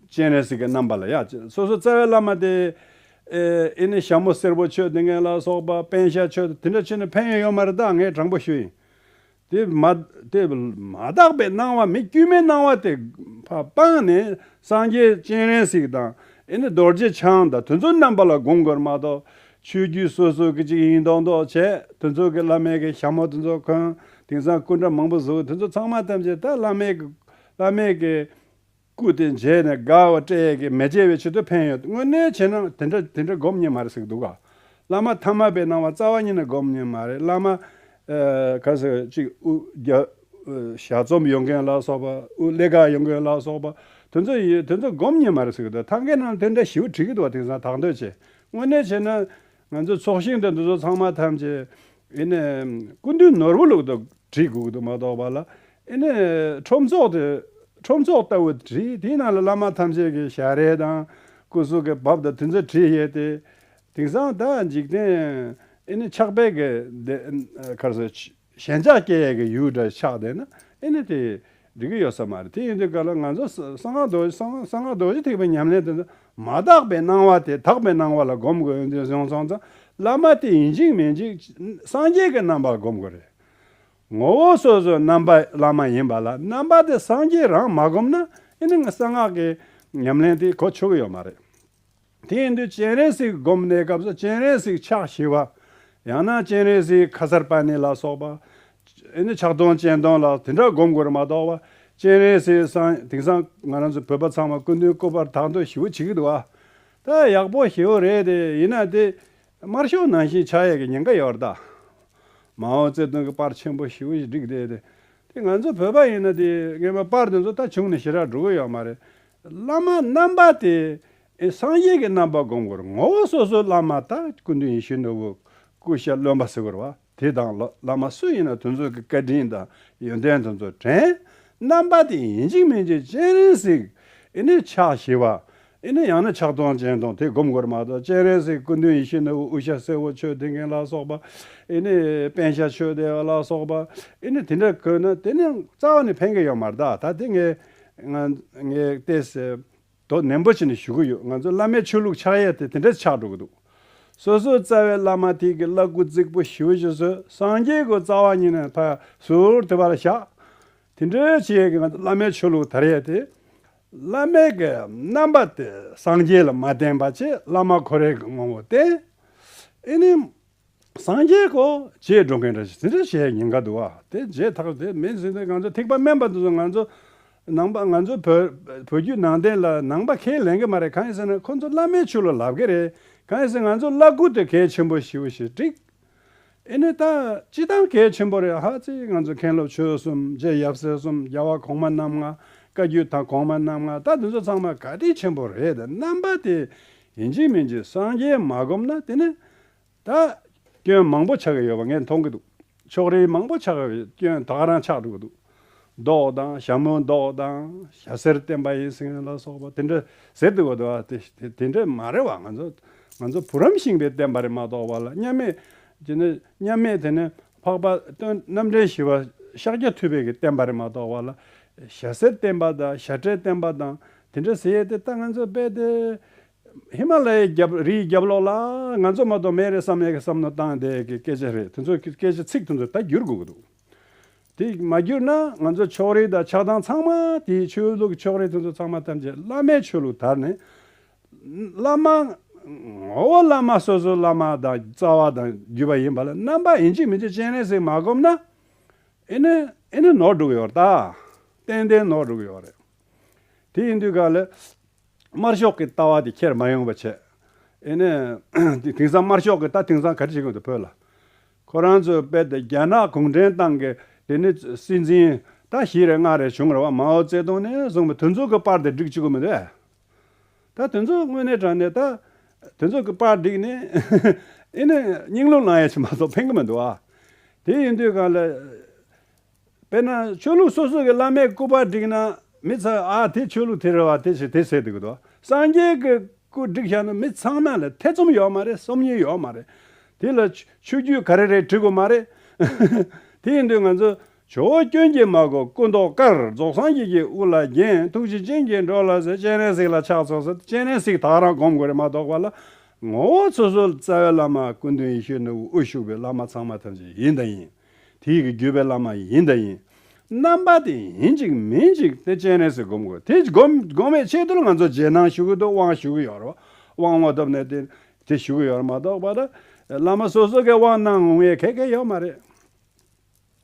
S1: སྤྱན་རས་གཟིགས་ཀྱི་རྣམ་པ་ལ་ཡག། སོ་སོའི་རྩ་བའི་བླ་མ་དེ། ཨེ་ནི་ཞྭ་མོ་སེར་པོ་ཆོས་དེ་ངན་ལ་སོགས་པ་བན་ཤ་ཆོས་དེ་འདྲ་ཆོས་ནི་ཕན་ཡོན་ཡོད་མ་རེད་ད་ངས་དྲང་པོ་ཞུ་ཡིན། དེ་མ། དེ་མ་དག་པའི་སྣང་བ་མི་དཀྱུས་མའི་སྣང་བ་དེ། ཕ་སྤངས་ནས་སངས་རྒྱས་སྤྱན་རས་གཟིགས་དང་ཨེ་ནི་རྡོ་རྗེ་འཆང་དང་དེ་ཚོའི་རྣམ་པ་ལ་བསྒོམ་དགོས་མ་གཏོགས། ཆོས་བརྒྱུད་སོ་སོ་གི་གཅིག་ཡིན་མདོག་མདོག་བྱས་དེ་ཚོ་གི་བླ་མེད་གི་ཞྭ་མོ་དེ་ཚོ་གོན་དེང་སང་སྐུ་འདྲ་མང་པོ་བཟོ་དེ་ཚོ་ཚང་མ་ཐམས་ཅད་ད་བླ་མེད་གི་བླ་མེད་གི་སྐུ་དེ་མཇལ་ནས་དགའ་བ་སྤྲད་ཡས་ཀྱི་མེ་ལྕེ་བའི་ཕྱི་དུ་འཕེན་ཡོད་དངོས་གནས་བྱས་ན་དེ་འདྲ་དེ་འདྲ་སྒོམ་ཉན་མ་རེད་ཟིག་འདུག་ག་བླ་མ་ཐ་མ་པའི་གནང་བ་རྩ་བ་ཉིད་ནས་སྒོམ་ཉན་མ་རེད་བླ་མ་ག་ཟེ་གཅིག་དབུ་རྒྱ་ཞྭ་རྩོམ་ཡོང་མཁན་ལ་སོགས་པ་དབུ་ཀླད་ག་ཡོང་མཁན་ལ་སོགས་པ་དེ་ཚོ་ཡིན་དེ་ཚོ་སྒོམ་ཉན་མ་རེད་ཟིག་འདུག་ཐང་གའི་ནང་དེ་འདྲ་ཞི་བ་བྲིས་ཀྱི་འདུག་བ་དེང་སང་དག་འདོད་བྱས་དངོས་གནས་བྱས་ན། ང་ཚོའི་ཚོགས་ཞིང་དང་འདི་ཚོ་ཚང་མ་ཐམས་ཅད། ཨེ་ནས། སྐུ་མདུན་ནོར་བུ་ལུགས་དང་བྲིས་དགོས་ཀྱི་འདུག་མ་གཏོགས་པ་ལ། ཨེ་ནས། ཁྲོམ་ཚོགས་དེ། ཁྲོམ་ཚོགས་ལྟ་བུ་བྲིས་དེའི་ནང་ལ་བླ་མ་ཐམས་ཅད་ཀྱི་ཞལ་རས་དང། སྐུ་གཟུགས་ཀྱི་བབ་དང་དེ་ཚོ་བྲིས་ཡས་ཏེ། དེང་སང་ད་འཇིག་རྟེན། ཨེ་ནས་ཕྱག་དཔེ་གི། ཁར་སོ། ཞེན་ཆགས་སྐྱེ་ཡས་ཀྱི་ཡུལ་འདྲ་ཆགས་བསྡད་ན་ཨེ་ནི་དེ་འགྲིག་གི་ཡོད་ས་མ་རེད་དེ་ཡིན་དུས་ག་ལ་ང་ཚོ་གསང་སྔགས་རྡོ་རྗེ་གསང་སྔགས་རྡོ་རྗེ་ཐེག་པའི་ཉམས་ལེན་དེ་ཚོ་མ་དག་པའི་སྣང་བ་དེ་དག་པའི་སྣང་བ་ལ་སྒོམ་དགོས་ཡོད་འདུག་གཞུང་སོང་ཙང་བླ་མ་དེ་ཡིན་གཅིག་མིན་གཅིག་སངས་རྒྱས་ཀྱི་རྣམ་པར་སྒོམ་དགོས་རེད། ངོ་བོ་སོ་སོའི་རྣམ་པ་བླ་མ་ཡིན་པ་ལ་རྣམ་པ་དེ་སངས་རྒྱས་རང་མ་སྒོམ་ན་ཨེ་ནི་ང་གསང་སྔགས་ཀྱི་ཉམས་ལེན་དེ་གོ་ཆོག་གི་ཡོད་མ་རེད། དེ་ཡིན་དུས་སྤྱན་རས་གཟིགས་བསྒོམ་གནས་སྐབས་སུ་སྤྱན་རས་གཟིགས་ཕྱག་བྱེད་པ། ཡང་ན་སྤྱན་རས་གཟིགས་ཁ་སར་པད་ནི་ལ་སོགས་པ། ཨེ་ནི་ཕྱག་སྟོང་སྤྱན་སྟོང་ལ་དེ་འདྲ་བསྒོམ་དགོས་ར་མ་གཏོགས་པ། སྤྱན་རས་གཟིགས་སང་དེང་སང་ང་རང་ཚོ་བོད་པ་ཚང་མ་སྐུ་མདུན་སྐུ་པར་དག་འདུག་ཞེ་བོ་བྱེད་ཀྱི་འདུག་ཨ། ད་ཡག་པོ་ཞེ་བོ་རེད་དེ་ཡིན་ན་དེ། དམར་ཤོག་ནང་བཞིན་ཕྱག་གཡས་ཀྱི་ཉེན་ཁ་ཡོད་ར་ད། མའོ་ཙེ་ཏུང་གི་པར་ཆེན་པོ་ཞེ་བོ་བསྒྲིགས་དེ་དེ། དེ་ང་ཚོ་བོད་པ་ཡིན་ན་དེ་ངན་པའི་པར་དེ་ཚོ་ད་བྱུང་ནས་ཞེ་དྲག་འགྲོ་གི་ཡོད་མ་རེད། བླ་མ་རྣམ་པ་དེ་སངས་རྒྱས་ཀྱི་རྣམ་པ་བསྒོམ་དགོས་ངོ་བོ་སོ་སོའི་བླ་མ་དག་ཀུན་ཏུ་ཡེ་ཤེས་ནོར་བུ་ཀུ་ཤ་རློན་པ་ཟེར་བ་དེ་དང་བླ་མ་སུ་ཡིན་ན་དུ་ཚོད་ཀྱི་བཀའ་དྲིན་དང་ཡོན་ཏན་དུ་ཚོད་དྲན། རྣམ་པ་དེ་ཡིན་གཅིག་མིན་གཅིག་སྤྱན་རས་གཟིགས་ཨེ་ནས་ཕྱག་བཞི་པ་ཨེ་ནས་ཡང་ན་ཕྱག་སྟོང་སྤྱན་སྟོང་དེ་བསྒོམ་དགོས་མ་གཏོགས་སྤྱན་རས་གཟིགས་ཀུན་ཏུ་ཡེ་ཤེས་ནོར་བུ་ཨུ་ཤ་སེར་བོ་ཆོས་སྡེ་མཁན་ལ་སོགས་པ་ཨེ་ནས་པན་ཤ་ཆོས་སྡེ་བ་ལ་སོགས་པ་ཨེ་ནས་དེ་འདྲ་དགོས་ན་དེ་ནི་རྩ་བ་ནས་ཕན་གྱི་ཡོད་མ་གཏགས་ད་དེ་ངས། ང་ངས་བལྟས་ཚེ། དོ་ནན་པོ་བྱས་ནས་ཞུ་གི་ཡོད་ང་ཚོའི་བླ་མའི་ཆོས་ལུགས་ཕྱག་གཡས་དེ་དེ་འདྲ་ཆགས་འགྲོ་གི་འདུག་སོ་སོའི་རྩ་བའི་བླ་མ་ཐིག་གི་བླ་སྐུ་རྩིག་པོ་ཞི་བ་ཞིག་བཟོས་སངས་རྒྱས་ཀྱི་རྩ་བ་ཉིད་ནས་ཐག་ཟུར་དེ་བར་བཞག་དེ་འདྲ་བྱས་ཀྱི་ང་ཚོའི་བླ་མའི་ཆོས་ལུགས་དར་ཡས་དེ། བླ་མེད་ཀྱི་རྣམ་པ་དེ་སངས་རྒྱས་ལ་མ་བསྟན་པ་ཆེད་བླ་མ་ཁོ་རེ་གི་ངོ་བོ་བསྟན། ཨེ་ནས། སངས་རྒྱས་ཀོ། ཅེས་སྒྲོག་མཁན་འདྲ་ཞིག་ཟིན་འདྲ་ཞེས་ཉེན་ཁ་བསྡུ་བ་དེ་རྗེས་ཐག་དེ་མིན་ཟིན་ཏེ་ང་ཚོ་ཐིགས་པ་དམན་པ་དེ་ཚོ་ང་ཚོ་ནང་པ་ང་ཚོ་བོད་བོད་བརྒྱུད་ནང་བསྟན་ལ་ནང་པ་ཁས་ལེན་གི་མ་རེད་གང་ཡིན་ཟེར་ན་ཁོ་ཚོ་བླ་མའི་ཆོས་ལ་ལབ་གི་རེད་གང་ཡིན་ཟེར་ང་ཚོ་བླ་སྐུ་དེ་གལ་ཆེན་པོ་ཞིག་ཞེས་དཀྲིགས། ཨེ་ནས་ད་སྤྱི་བཏང་གལ་ཆེན་པོ་རེད་ཧ་ཙི་ང་ཚོ་མཁན་སློབ་ཆོས་གསུམ་རྗེ་ཡབ་སྲས་གསུམ་རྒྱལ་བ་གོང་མ་རྣམ་ལྔ་བཀའ་བརྒྱུད་ད་གོང་མ་རྣམ་ལྔ་ད་དེ་ཚོ་ཚང་མ་ག་དྲིན་ཆེན་པོ་རེད་རྣམ་པ་དེ་ཡིན་གཅིག་མིན་གཅིག་སངས་རྒྱས་མ་བསྒོམས་ན་དེ་ནི། ད། སྐྱོན་མང་པོ་ཆགས་ཀྱི་ཡོད་པ་ངས་མཐོང་གི་འདུག། ཕྱོགས་རིས་མང་པོ་ཆགས་པའི་སྐྱོན་དག་རང་ཆགས་འགྲོ་གི་འདུག། མདོག་དང་ཞྭ་མོའི་མདོག་དང་ཞྭ་སེར་བསྟན་པ་ཡིན་ཟིན་ལ་སོགས་པ་དེ་འདྲ་ཟེར་འདུག་གི་འདུག་ཨ། དེ་འདྲ་མ་རེད་བ་ང་ཚོ། ང་ཚོ་བུ་རམ་ཤིང་པའི་བསྟན་པ་རེད་མ་གཏོགས་བ་ལ་མཉམ་མེད་ཀྱི་ནི་མཉམ་མེད་དེ་ནི་འཕགས་པ་སྟོན་རྣམ་འདྲེན་ཞི་བ་ཤཱཀྱ་ཐུབ་དཔལ་གྱི་བསྟན་པ་རེད་མ་གཏོགས་བ་ལ། ཞྭ་སེར་བསྟན་པ་དང་ཞྭ་ཁྲའི་བསྟན་པ་དང་དེ་འདྲ་ཟེར་ཡས་དེ་ལྟ་ང་ཚོས་དཔེ་དེ། ཧི་མ་ལ་ཡའི་རྒྱབ་རིའི་རྒྱབ་ལོགས་ལ་ང་ཚོ་མ་གཏོགས་མེད་རེད་བསམ་ཡས་ཀྱི་བསམ་མནོ་བཏང་དེ་ཀྱི་སྐད་ཆ་རེད་དེ་ཚོ་ཀྱི་སྐད་ཆ་ཚིག་དེ་ཚོ་ད་བསྒྱུར་དགོས་ཀྱི་འདུག་དེ་མ་བསྒྱུར་ན་ང་ཚོ་ཕྱོགས་རིས་དང་ཆགས་སྡང་ཚང་མ་དེའི་ཆོས་ལུགས་ཀྱི་ཕྱོགས་རིས་དེ་ཚོ་ཚང་མ་ཐམས་ཅད་བླ་མའི་ཆོས་ལུགས་དར་ནས། བླ་མ། ངོ་བོ་བླ་མ་སོ་སོའི་བླ་མ་དང་རྩ་བ་དང་བརྒྱུད་པ་ཡིན་པ་ལ་རྣམ་པ་ཡིན་གཅིག་མིན་གཅིག་སྤྱན་རས་གཟིགས་མ་བསྒོམས་ན། ཨེ་ནི་ཨེ་ནི་ནོར་འགྲོ་གི་ཡོད་རེད་ད། ཏན་ཏན་ནོར་འགྲོ་གི་ཡོད་རེད། དེ་ཡིན་དུས་ག་ལ། དམར་ཤོག་གི་ལྟ་བ་དེ་ཁྱེར་མ་ཡོང་བ་བྱས། ཨེ་ནས། དེང་སང་དམར་ཤོག་གི་ལྟ་དེང་སང་ག་རེ་བྱེད་གི་འདུག་བོད་ལ། ཁོ་རང་ཚོའི་དཔེ་དེ་རྒྱ་ནག་གུང་ཁྲན་ཏང་གི་དེ་ནི་སྲིད་འཛིན་ད་བཞི་རེ་ལྔ་རེ་བྱུང་རེ་བ་མའོ་ཙེ་ཏུང་ནས་བཟུང་བའི་དུས་མཚུངས་ཀྱི་པར་དེ་བསྒྲིགས་བཅུག་གི་མི་འདུག་ཨ། ད་དུས་མཚུངས་དངོས་གནས་དྲ་ནས་ད། དུས་མཚུངས་ཀྱི་པར་བསྒྲིགས་ནས། ཨེ་ནས། སྙིང་རླུང་ལངས་ཡས་ཆེ་མ་གཏོགས་ཕན་གྱི་མི་འདུག་ཨ། དེ་ཡིན་དུས་ག་ལ། དཔེར་ན་ཆོས་ལུགས་སོ་སོ་གི་བླ་མའི་སྐུ་པར་བསྒྲིགས་ན། མི་ཚང་ཨ་དེ་ཆོས་ལུགས་དེ་རེད་བ་དེ་ཞིག་དེ་ཟེར་དུས་གི་དོ། སངས་རྒྱས་ཀྱི་སྐུ་བསྒྲིགས་བཞག་ན་མི་ཚང་མ་ལ་ཐེ་ཚོམ་ཡོད་མ་རེད་སོམ་ཉི་ཡོད་མ་རེད། དེ་ལ་ཆོས་བརྒྱུད་ག་རེ་རེད་དྲི་དགོས་མ་རེད། དེ་ཡིན་དུས་ང་ཚོ་ཇོ་བོ་སྐྱོན་གྱིས་མ་གོ་སྐུ་མདོག་དཀར་རྫོགས་སངས་རྒྱས་ཀྱི་དབུ་ལ་བརྒྱན་ཐུགས་རྗེ་ཅན་གྱིས་འགྲོ་ལ་ཟེར་སྤྱན་རས་གཟིགས་ལ་ཕྱག་འཚོགས་ཟེར་སྤྱན་རས་གཟིགས་དག་རང་སྒོམ་དགོས་རེད་མ་གཏོགས་པ་ལ། ངོ་བོ་སོ་སོ་རྩ་བའི་བླ་མ་སྐུ་མདུན་ཡེ་ཤེས་ནོར་བུའི་དབུ་བཞུགས་པའི་བླ་མ་ཚང་མ་ཐམས་ཅད་ཡིན་དང་ཡིན། དེ་ཡི་གེ་བརྒྱུད་པའི་བླ་མ་ཡིན་དང་ཡིན། རྣམ་པ་དེ་ཡིན་ཅིག་མིན་ཅིག་དེ་སྤྱན་རས་གཟིགས་བསྒོམ་དགོས། དེ་བསྒོམ་བའི་ཆེད་དུ་ང་ཚོ་རྗེས་གནང་ཞུ་གི་འདུག་དབང་ཞུ་གི་ཡོད། དབང་མ་ཐོབ་ནས་དེ་དེ་ཞུ་གི་ཡོད་མ་གཏོགས་པར། བླ་མ་སོ་སོ་གའི་དབང་གནང་ངོ་ངས་ཁེ་གེ་ཡོད་མ་རེད།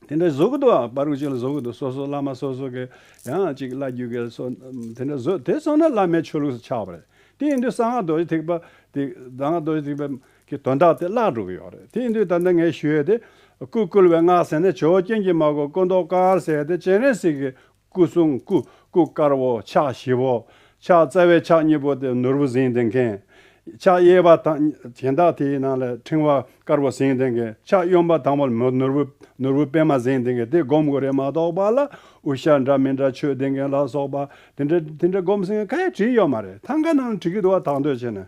S1: དེ་འདྲ་བཟོ་གི་འདུག་པར་རིགས་གཅིག་ལ་བཟོ་གི་འདུག་སོ་སོ་བླ་མ་སོ་སོ་གའི་ཡང་ཅིག་བླ་བརྒྱུད་གའི་སོ་དེ་འདྲ་བཟོས་དེ་སོང་ན་བླ་མའི་ཆོས་ལུགས་སུ་ཆགས་པ་རེད། དེ་ཡིན་དུས་གསང་སྔགས་རྡོ་རྗེ་ཐེག་པ་དེ་གསང་སྔགས་རྡོ་རྗེ་ཐེག་པའི་གི་དོན་དག་དེ་བརླག་འགྲོ་གི་ཡོད་རེད་དེ་ཡིན་དུས་ད་ནི་ངས་ཞུ་ཡོད་དེ། སྐུ་བསྐུལ་བའི་སྔགས་ཟེར་ནས་ཇོ་རྒྱན་གྱི་མ་གོ་སྐུ་མདོག་དཀར་ཟེར་དེ་སྤྱན་རས་གཟིགས་ཀྱི་སྐུ་གསུང་སྐུ་སྐུ་དཀར་བོ་ཕྱག་བཞི་བོ། ཕྱག་རྩ་བའི་ཕྱག་གཉིས་པོ་དེ་ནོར་བུ་གཟིངས་ལྡན་མཁན། ཕྱག་གཡས་པ་དང་གྱེན་དག་དེའི་ནང་ལ་ཕྲེང་བ་དཀར་བོ་གཟིངས་ལྡན་མཁན་ཕྱག་གཡོན་པ་དང་པོ་ལ་ནོར་བུ་ནོར་བུ་པད་མ་གཟིངས་ལྡན་མཁན་དེ་བསྒོམ་དགོས་རེད་མ་གཏོགས་པ་ལ་དབུ་ཞྭ་འདྲ་མི་འདྲ་ཆོས་ལྡན་མཁན་ལ་སོགས་པ་དེ་འདྲ་དེ་འདྲ་བསྒོམ་ཟིན་ཁ་ཡ་བྲིས་ཡོད་མ་རེད་ཐང་ག་ནང་ལ་བྲིས་ཀྱི་འདུག་བ་དག་འདོད་བྱེད་ནས་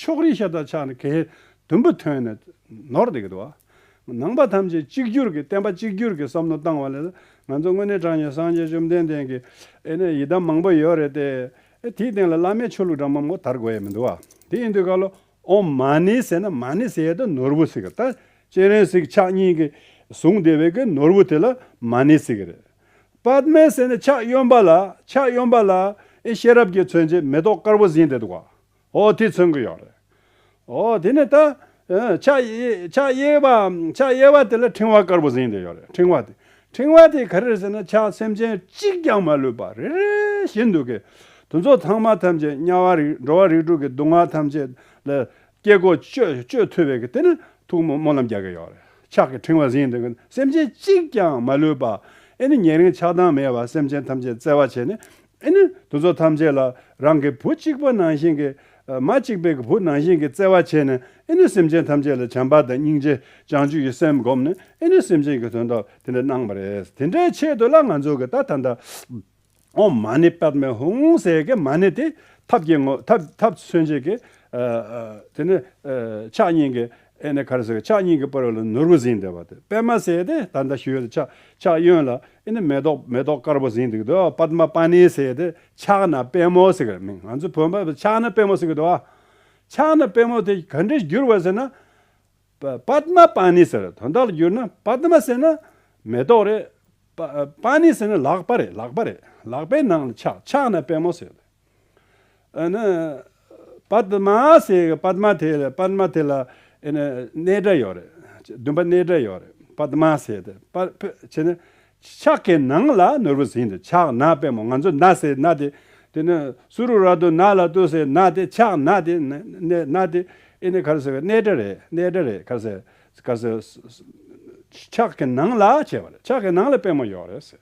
S1: ཕྱོགས་རིས་ཤ་དང་ཆགས་ནས་གལ། དུམ་བུ་ཐོན་ནས་ནོར་འདེགས་འདུ། ནང་པ་ཐམས་ཅད་གཅིག་གྱུར་གྱི་བསྟན་པ་གཅིག་གྱུར་གྱི་བསམ་བློ་བཏང་བ་ལས། ང་ཚོ་དངོས་གནས་དྲང་ཉེ་སངས་རྒྱས་བཅོམ་ལྡན་འདས་ཀྱི། ཨེ་ནས་ཡི་དམ་མང་པོ་ཡོད་རེད་དེ། དེའི་སྟེང་ལ་བླ་མའི་ཆོས་ལུགས་འདྲ་མང་པོ་དར་དགོས་ཡས་མི་འདུག་བ། དེ་ཡིན་དུས་ཀ་ལོ་ཨོམ་མ་ནི་ཟེར་ན་མ་ནི་ཟེར་ཡས་དང་ནོར་བུ་ཟེར་གི་ད། སྤྱན་རས་གཟིགས་ཕྱག་གཉིས་ཀྱི་གཟུངས་བདེ་བའི་གི་ནོར་བུ་དེ་ལ་མ་ནི་ཟེར་གི་རེད། པདྨའི་ཟེར་ནས་ཕྱག་གཡོན་པ་ལ་ཕྱག་གཡོན་པ་ལ། ཨེ་ཤེས་རབ་ཀྱི་མཚོན་བྱེད་མེ་ཏོག་དཀར་པོ་བཟིན་དེ་འདུག་བ། ཨོ་དེ་མཚོན་གྱི་ཡོད་རེད། ཨོ་དེ་ནས་ད། ཕྱག་གཡས་པ། ཕྱག་གཡས་པ་དེ་ལ་ཕྲེང་བ་དཀར་པོ་གཟེངས་དེ་ཡོད་རེད་ཕྲེང་བ་དེ། ཕྲེང་བ་དེ་ག་རེ་རེད་ཟེར་ན་ཕྱག་སེམས་ཅན་གཅིག་ཀྱང་མ་ལུས་པ་རེ་རེ་བཞིན་འདུག་གི། དེ་ཚོ་ཚང་མ་ཐམས་ཅད་དམྱལ་བ་རིགས་འགྲོ་བ་རིགས་དྲུག་གི་སྡུག་བསྔལ་ཐམས་ཅད་ལ་སྐྱེ་སྒོ་གཅོད་ཐུབ་པའི་གི་དེ་ནི་ཐུགས་སྨོན་ལམ་རྒྱག་གི་ཡོད་རེད་ཕྱག་གི་ཕྲེང་བ་གཟེངས་དེ་གི་སེམས་ཅན་གཅིག་ཀྱང་མ་ལུས་པ་ཨེ་ནི་ཉེ་རིང་ཆགས་སྡང་མེད་པར་སེམས་ཅན་ཐམས་ཅད་བརྩེ་བ་བྱས་ནས་ཨེ་ནི་དུ་ཚོགས་ཐམས་ཅད་ལ་རང་གི་བུ་གཅིག་པ་ནང་བཞིན་གྱི། མ་གཅིག་པའི་གི་བུ་ནང་བཞིན་གྱི་བརྩེ་བ་བྱས་ནས་ཨེ་ནི་སེམས་ཅན་ཐམས་ཅད་ལ་བྱམས་པ་དང་སྙིང་རྗེ་བྱང་ཆུབ་ཀྱི་སེམས་བསྒོམས་ནས་ཨེ་ནི་སེམས་ཅན་གྱི་དོན་དག་དེ་འདྲ་གནང་བ་རེད་དེ་འདྲའི་ཆེད་དུ་ལ་ང་ཚོ་གི་ད་ད་འདའོ། མ་ནི་པདྨའི་ཧཱུྃ་ཟེར་གི་མ་ནི་དེ་ཐབས་ཀྱི་ངོ། ཐབས་མཚོན་བྱེད་ཀྱི། དེ་ནི་ཕྱག་གཉིས་ཀྱི་ཨེ་ནི་ཁར་སོགས་ཕྱག་གཉིས་ཀྱི་སྤོས་ལ་ནོར་བུ་བཟིན་འདུག་པ་དེ་པདྨ་བསལ་ཏེ་ད་ལྟ་ཞུ་ཡོད་ཕྱག་གཡོན་ལ་ཨེ་ནི་མེ་ཏོག་མེ་ཏོག་དཀར་པོ་བཟིན་འདུག་དོ་པདྨ་པཱ་ནི་བསལ་ཏེ་ཕྱག་ན་པདྨོ་བསེ་གར་མིང་ང་ཚོའི་བོད་པ་ཕྱག་ན་པདྨོ་བསེ་གར་དོ། ཕྱག་ན་པདྨོ་དེ་ག་འདྲས་བསྒྱུར་བ་ཟེར་ན། པདྨ་པཱ་ནི་ཟེར་དོན་དག་ལ་བསྒྱུར་ན་པདྨ་ཟེར་ན་མེ་ཏོག་རེད། པཱ་ནི་ཟེར་ན་ལག་པ་རེད་ལག་པ་རེད་ལག་པའི་ནང་ལ་ཕྱག་ཕྱག་ན་པདྨོ་བསེ་ཏེ། ཨ་ནི། པདྨ་ཟེར་གི་པདྨ་དེ་ལ་པདྨ་དེ་ལ་གནས་སྒྲ་ཡོད་རེད། བདུན་པ་གནས་སྒྲ་ཡོད་རེད་པདྨ་ཟེར་དེ་བྱས་ནས། ཕྱག་གི་ནང་ལ་ནོར་བུ་ཟིན་དེ་ཕྱག་ན་པད་མོ་ང་ཚོས་ན་ཟེར་ན་དེ། དེ་ནི་སུ་རུ་ར་དུ་ན་ལ་ཏུ་ཟེར་ན་དེ་ཕྱག་ན་དེ་ན་དེ། ཨེ་ནི་གར་ཟེར་གི་གནས་སྒྲ་རེད་གནས་སྒྲ་རེད་གར་ཟེར། ཕྱག་གི་ནང་ལ་བྱས་པ་རེད་ཕྱག་གི་ནང་ལ་པད་མོ་ཡོད་རེད་ཟེར།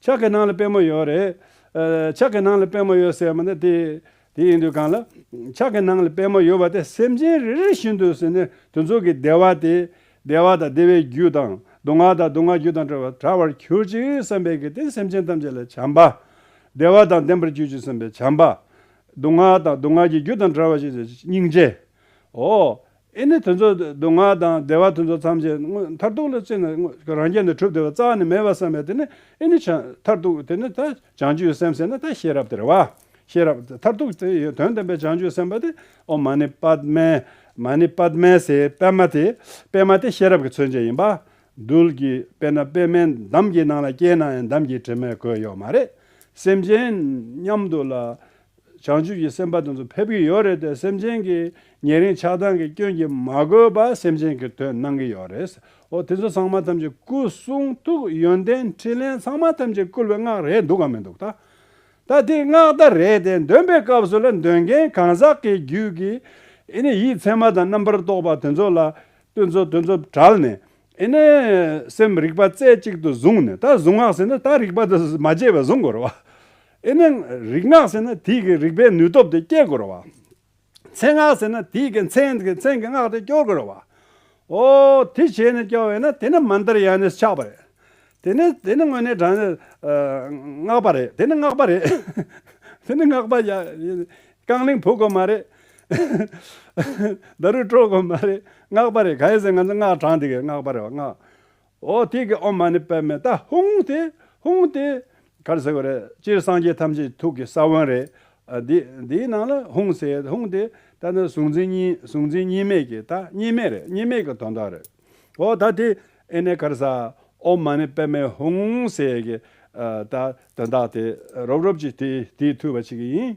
S1: ཕྱག་གི་ནང་ལ་པད་མོ་ཡོད་རེད། ཕྱག་གི་ནང་ལ་པད་མོ་ཡོད་ཟེར་མ་ནི་དེ་དེ་ཡིན་དུས་གང་ལ། ཕྱག་གི་ནང་ལ་པད་མོ་ཡོད་པ་དེ་སེམས་ཅན་རེ་རེ་བཞིན་དུ་ཟིན་ནས་དུས་མཚུངས་ཀྱི་བདེ་བ་དེ། བདེ་བ་དང་བདེ་བའི་རྒྱུ་དང་སྡུག་བསྔལ་དང་སྡུག་བསྔལ་རྒྱུ་དང་བྲལ་བ་དྲག་པར་གྱུར་ཅིག་བསམ་པའི་གིས་དེ་སེམས་ཅན་ཐམས་ཅད་ལ་བྱམས་པ། བདེ་བ་དང་ལྡན་པར་གྱུར་ཅིག་བསམ་པའི་བྱམས་པ། སྡུག་བསྔལ་དང་སྡུག་བསྔལ་གྱི་རྒྱུ་དང་བྲལ་བ་ཞེས་བྱ་བ་སྙིང་རྗེའོ། ཨེ་ནི་དེ་ཚོ་སྡུག་བསྔལ་དང་བདེ་བ་དེ་ཚོ་ཐམས་ཅད་མཐར་ཐུག་ལ་བརྩིས་ན་རང་རྒྱལ་ནི་གྲུབ་བདེ་བ་རྩ་བ་ནས་མེད་པར་བསམ་པས་དེ་ནི་ཨེ་ནི་མཐར་ཐུག་དེ་ནི་ད་བྱང་ཆུབ་ཀྱི་སེམས་ཟེར་ན་ད་ཤེས་རབ་དེར་བ། ཤེས་རབ་མཐར་ཐུག་དེ་ཡི་དོན་བསྟན་པའི་བྱང་ཆུབ་སེམས་དཔའ་དེ་ཨོ་མ་ནི་པདྨའི། མ་ནི་པདྨའི་སའི་པདྨ་དེ། པདྨ་དེ་ཤེས་རབ་ཀྱི་མཚོན་བྱེད་ཡིན་པ། རྡུལ་གྱི་དཔེར་ན་པདྨའི་འདམ་གྱི་ནང་ལ་སྐྱེས་ན་ཡང་འདམ་གྱི་དྲི་མས་གོས་ཡོད་མ་རེད། སེམས་ཅན་མཉམ་དུ་ལ། བྱང་ཆུབ་ཀྱི་སེམས་དཔའ་དེ་ཚོ་ཕེབས་ཀྱི་ཡོད་རེད་དེ་སེམས་ཅན་གྱི་ཉེ་རིང་ཆགས་སྡང་གི་སྐྱོན་གྱིས་མ་གོས་པ་སེམས་ཅན་གྱི་དོན་གནང་གི་ཡོད་རེད། ཨོ་དེ་ཚོ་ཚང་མ་ཐམས་ཅད་སྐུ་གསུང་ཐུགས་ཡོན་ཏན་ཕྲིན་ལས་ཚང་མ་ཐམས་ཅད་བསྐུལ་བའི་སྔགས་རེད་འདུག་གམ་མི་འདུག་ད། ད་དེ་སྔགས་ད་རེད་དེ་འདོན་པའི་སྐབས་སུ་ལ་འདོན་མཁན་གང་ཟག་གི་རྒྱུད་ཀྱི་ཨེ་ནི་ཡིད་ཚད་མ་དང་རྣམ་པར་རྟོག་པ་དེ་ཚོ་ལ་བསྟོད་ཚོ་དོན་ཚོ་བྲལ་ནས་ཨེ་ནི་སེམས་རིག་པ་རྩེ་གཅིག་ཏུ་བཟུང་ནས་ད་བཟུང་སྔགས་ཟེར་ན་ད་རིག་པ་དང་མ་བཅས་པ་བཟུང་དགོས་རེད་བ། ཨེ་ནི། རིག་སྔགས་ཟེར་ན་དེས་ཀྱི་རིག་པའི་ནུས་སྟོབས་དེ་སྐྱེད་དགོས་ར་བ། མཚན་སྔགས་ཟེར་ན་དེས་ཀྱི་མཚན་གྱི་མཚན་གྱི་སྔགས་དེ་སྐྱོར་དགོས་ར་བ། ཨོ། དེ་བྱས་ནས་སྐྱོར་བས་ན་དེ་ནི་མ་འདིར་ཡང་ནས་ཆགས་པ་རེད། དེ་ནི་དེ་ནི་དངོས་ནས་དྲང། སྔགས་པ་རེད་དེ་ནི་སྔགས་པ་རེད། དེ་ནི་སྔགས་པ། རྐང་གླིང་བུ་དགོས་མ་རེད། བརྡ་རུས་དཀྲོལ་དགོས་མ་རེད་སྔགས་པ་རེད་ག་ཡེ་ཟེར་ང་ཚོ་སྔགས་དྲང་དེ་ཀྱི་སྔགས་པ་རེད་བ་སྔགས། ཨོ་ཐིག་གི་ཨོ་མ་ནི་པདྨའི་ཏཱ་ཧུང་སྟེ། ཧུང་སྟེ། གར་ཟེར་བ་རེད། སྤྱིར་སངས་རྒྱས་ཐམས་ཅད་ཐུགས་ཀྱི་ས་བོན་རེད། འདིའི་ནང་ལ་ཧུང་ཟེར་ཡོད། ཧུང་སྟེ། ད་ནི་གཟུང་འཛིན་གཉིས་གཟུང་འཛིན་གཉིས་མེད་ཀྱི་ད་གཉིས་མེད་རེད་གཉིས་མེད་ཀྱི་དོན་དག་རེད། ཨོ་ད་དེ་ཨེ་ནས་གར་ཟ། ཨོ་མ་ནི་པདྨའི་ཧུང་ཟེར་གྱི་ད་དོན་དག་དེ་རོབ་རོབ་ཅིག་དེ་དེའི་ཐུལ་བ་བྱེད་ཀྱི་ཡིན།